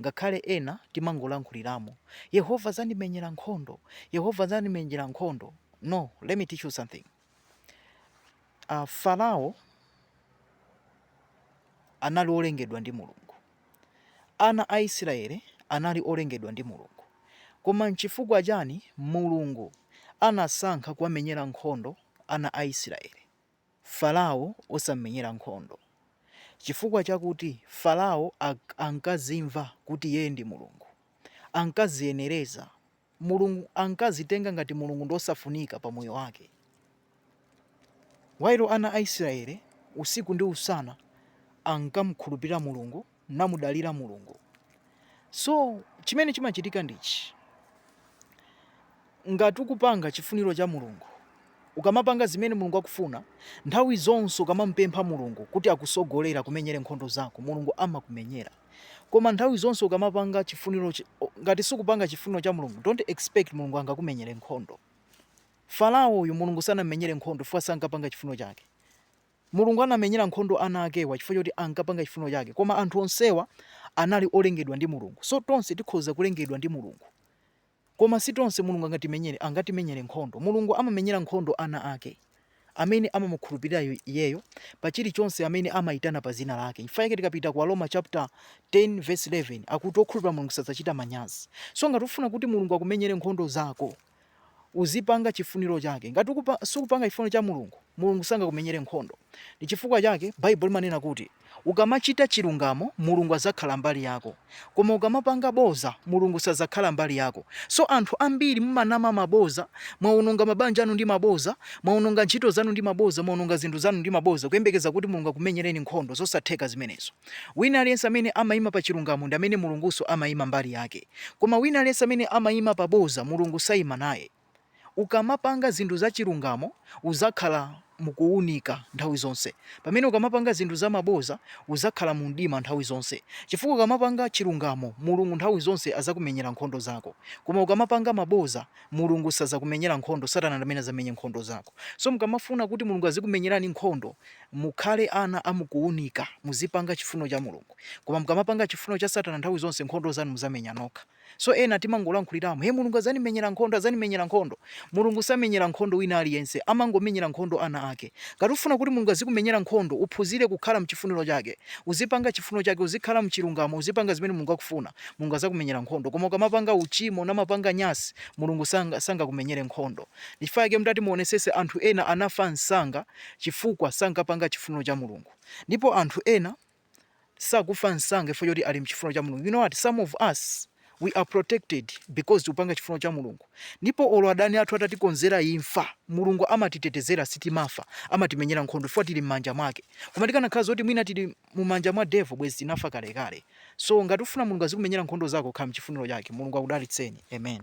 Ngakhale ena timangolankhuliramo, Yehova adzandimenyera nkhondo, Yehova adzandimenyera nkhondo. No, let me teach you something. Uh, Farao anali olengedwa ndi Mulungu. Ana a Israele anali olengedwa ndi Mulungu. Koma nchifukwa chani Mulungu anasankha kuwamenyera nkhondo ana a Israele? Farao osam'menyera nkhondo. Chifukwa chakuti Farao ankadzimva kuti iyeyo ndi Mulungu, ankadziyenereza, Mulungu, ankadzitenga ngati Mulungu ndi wosafunika pa moyo wake. While ana a Israeli usiku ndi usana ankamukhulupirira Mulungu. namudalira mulungu so chimene chimachitika ndichi ngati ukupanga chifuniro cha mulungu ukamapanga zimene mulungu akufuna nthawi zonse ukamamupempha mulungu kuti akutsogolere akumenyere nkhondo zako mulungu amakumenyera koma nthawi zonse ukamapanga chifuniro chi- o- ngati sukupanga chifuniro cha mulungu don't expect mulungu angakumenyere nkhondo farao uyu mulungu sanammenyere nkhondo chifukwa sankapanga chifuniro chake Mulungu anamenyera nkhondo ana akewa chifukwa choti ankapanga chifuniro chake koma anthu onsewa anali olengedwa ndi Mulungu. So tonse tikhoza kulengedwa ndi Mulungu koma si tonse Mulungu angatimenyere angatimenyere nkhondo. Mulungu amamenyera nkhondo ana ake amene amamukhulupirira iye- iyeyo pa chilichonse amene amayitana pa dzina lake. Chifukwa chake tikapita ku Aroma chapter 10 verse 11 akuti okhulupirira Mulungu sadzachita manyazi. So ngati ufuna kuti Mulungu akumenyere nkhondo zako Uzipanga chifuniro chake. Ngati sukupanga chifuniro cha Mulungu, Mulungu sangakumenyere nkhondo. Ndi chifukwa chake Baibulo limanena kuti ukamachita chilungamo, Mulungu adzakhala mbali yako. Koma ukamapanga bodza, Mulungu sadzakhala mbali yako. So anthu ambiri mumanama maboza, mwaononga mabanja anu ndi maboza, mwaononga ntchito zanu ndi maboza, mwaononga zinthu zanu ndi maboza, kuyembekeza kuti Mulungu akumenyereni nkhondo. Zosatheka zimenezo. Wina aliyense amene amaima pa chilungamo ndi amene Mulungunso amaima mbali yake. Koma wina aliyense amene amaima pa bodza, Mulungu saima naye. Ukamapanga zinthu zachilungamo, udzakhala mu kuunika nthawi zonse, pamene ukamapanga zinthu za mabodza, udzakhala mu mdima nthawi zonse. Chifukwa ukamapanga chilungamo, Mulungu nthawi zonse adzakumenyera nkhondo zako. Koma ukamapanga mabodza, Mulungu sadzakumenyera nkhondo, Satana ndi amene adzamenye nkhondo zako. So mukamafuna kuti Mulungu azikumenyerani nkhondo, Mukhale ana a mukuunika, muzipanga chifuniro cha Mulungu. Koma mukamapanga chifuniro cha satana nthawi zonse nkhondo zanu mudzamenya nokha. So ena timangolankhuliramo he Mulungu adzandimenyera nkhondo adzandimenyera nkhondo. Mulungu samenyera nkhondo wina aliyense amangomenyera nkhondo ana ake. Ngati ufuna kuti Mulungu azikumenyera nkhondo uphunzire kukhala mchifuniro chake. Uzipanga chifuniro chake uzikhala mchilungamo uzipanga zimene Mulungu akufuna Mulungu adzakumenyera nkhondo koma ukamapanga uchimo namapanga nyasi Mulungu sangakumenyere nkhondo. Ndichifukwa chake mutati muonetsetse anthu ena anafa msanga. chifukwa sankapanga chifuniro cha Mulungu. Ndipo anthu ena sakufa msanga chifukwa choti ali mchifuniro cha Mulungu. You know what? Some of us, we are protected because tikupanga chifuniro cha Mulungu. Ndipo olo adani athu atatikonzera imfa, Mulungu amatitetezera sitimafa, amatimenyera nkhondo chifukwa tili mmanja mwake. Koma tikanakhala zoti mwina tili mumanja mwa devil bwezi tinafa kalekale. So ngati ufuna Mulungu azikumenyera nkhondo zako, khala mchifuniro chake. Mulungu akudalitseni. Amen.